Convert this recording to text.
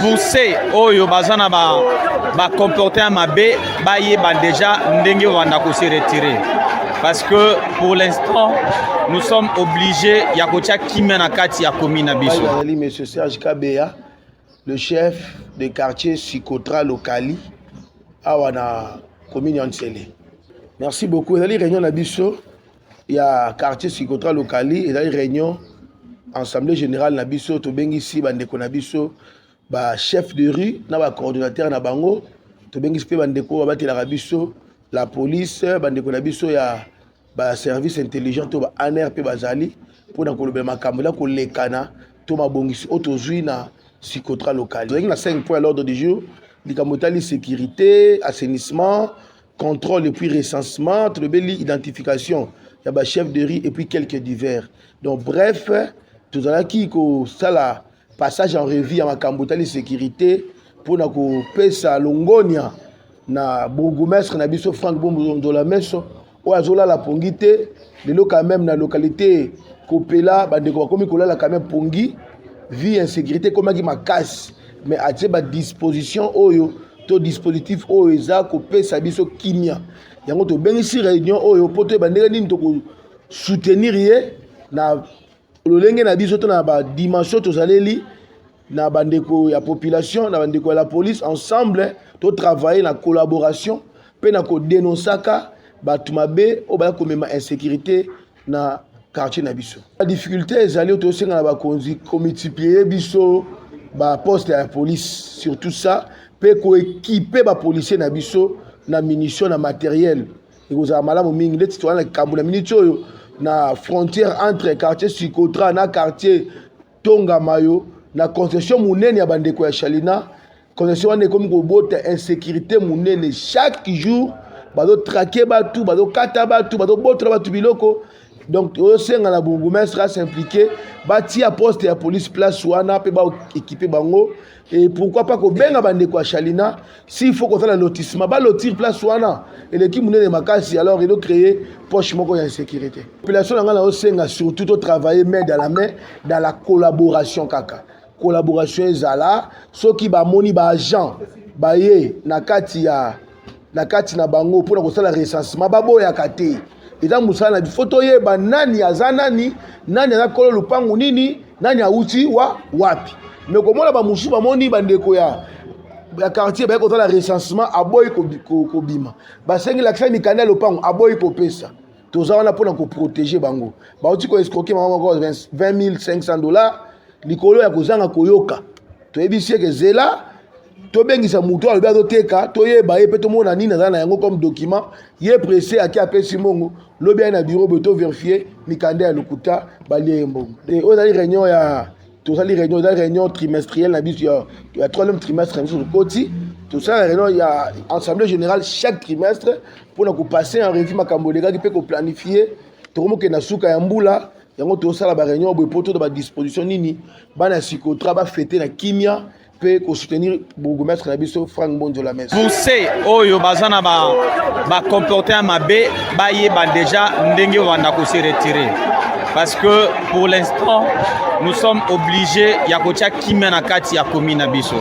pour ceux oyo baza na ba ba comportement mabe bayeba déjà ndenge banda ko se retirer parce que pour l'instant nous sommes obligés ya kotia kimia na kati ya commune na biso ezali monsieur Serge Kabeya le chef de quartier Sikotra Lokali awa na commune ya Nsele merci beaucoup ezali réunion na biso ya quartier sikotra lokali ezali réunion assemblée générale na biso tobengisi bandeko na biso ba chef de rue na ba coordonnateur na bango tobengisi mpe bandeko oyo babatelaka biso la police bandeko na biso ya ba service intelligent to ba aner mpe bazali mpo na kolobela makambo na kolekana to mabongisi oyo tozwi na sikotra lokali tozalaki na 5 point à l'ordre du jour likambo etali sécurité assainissement contrôle et puis recensement tolobeli identification ya ba chef de riz et puis quelques divers donc bref tozalaki kosala passage en revue ya makambo etali sécurité mpo na kopesa longonia na bourgmestre na biso frank bombondola meso oyo azolala pongi te lelo quand même na localité kopela bandeko bakomi kolala quand même pongi vie insécurité ekomaki makasi mais atie badisposition oyo to dispositif oyo eza kopesa biso kimia yango tobengisi réunion oyo mpo toyeba ndenge nini tokosoutenir ye na lolenge na biso to na badimension tozaleli na bandeko ya population na bandeko ya la police ensemble totravaille na collaboration mpe na kodenonsaka bato mabe oyo baya komema insécurité na quartier na biso ba difficulté ezali oyo tosenga na bakonzi komultiplier biso baposte ya police surtout ça mpe koekipe bapolisier na biso na munition na materiel ekozala malamu mingi ndeti towana na likambo na miniti oyo na frontière entre quartier sicotra na quartier tonga mayo na concession monene ya bandeko ya chalina congestion wana ekomi kobota insécurité monene chaque jour bazotrake bato bazokata bato bazobotola bato biloko donc tozosenga na bourgmestre asimplike batia poste ya police place wana mpe baekipe bango et pourquoi pas kobenga bandeko ya chalina s'il faut kosala lotissement balotir place wana eleki monene makasi alors edo créer poche moko ya insécurité population na ngai nazosenga surtout totravailler main dans la main dans la collaboration kaka collaboration ezala soki bamoni ba agent baye na kati ya na kati na bango mpona kosala recensement baboyaka te eza mosala na bifo toyeba nani aza nani nani aza kolo lupangu nini nani awuti wa wapi me komona bamosusu bamoni bandeko ya ya quartier baye kosala recensement aboyi kobima basengi lakisa mikanda ya lopango aboyi kopesa toza wana mpo na koprotege bango bauti koescroke mama moko 20500 dollars likolo ya kozanga koyoka toyebisi eke zela tobengisa moto alobi azoteka toyeba ye mpe tomona nini azala na yango comme document ye presse ake apesi mbongo lobi aye na bureau boye toverifie mikanda ya lokuta balie ye mbongo oyo ezali réunion ya tozali réunion eza réunion trimestrielle na biso ya, ya troisième trimestre na biso tokoti tosala réunion ya assemblée générale chaque trimestre mpo na kopase en revue makambo elekaki mpe koplanifie tokomokende na suka ya mbula yango tosala ba réunion boye mpo toda ba disposition nini bana ya sikotra bafete na kimia mpe kosoutenir bourgmestre na biso frank mbonjo la mese bourse oyo baza na bacomporte ya mabe bayeba deja ndenge obanda kose retire parce que pour l'instant nous sommes obligés ya kotya kimia na kati ya komi na biso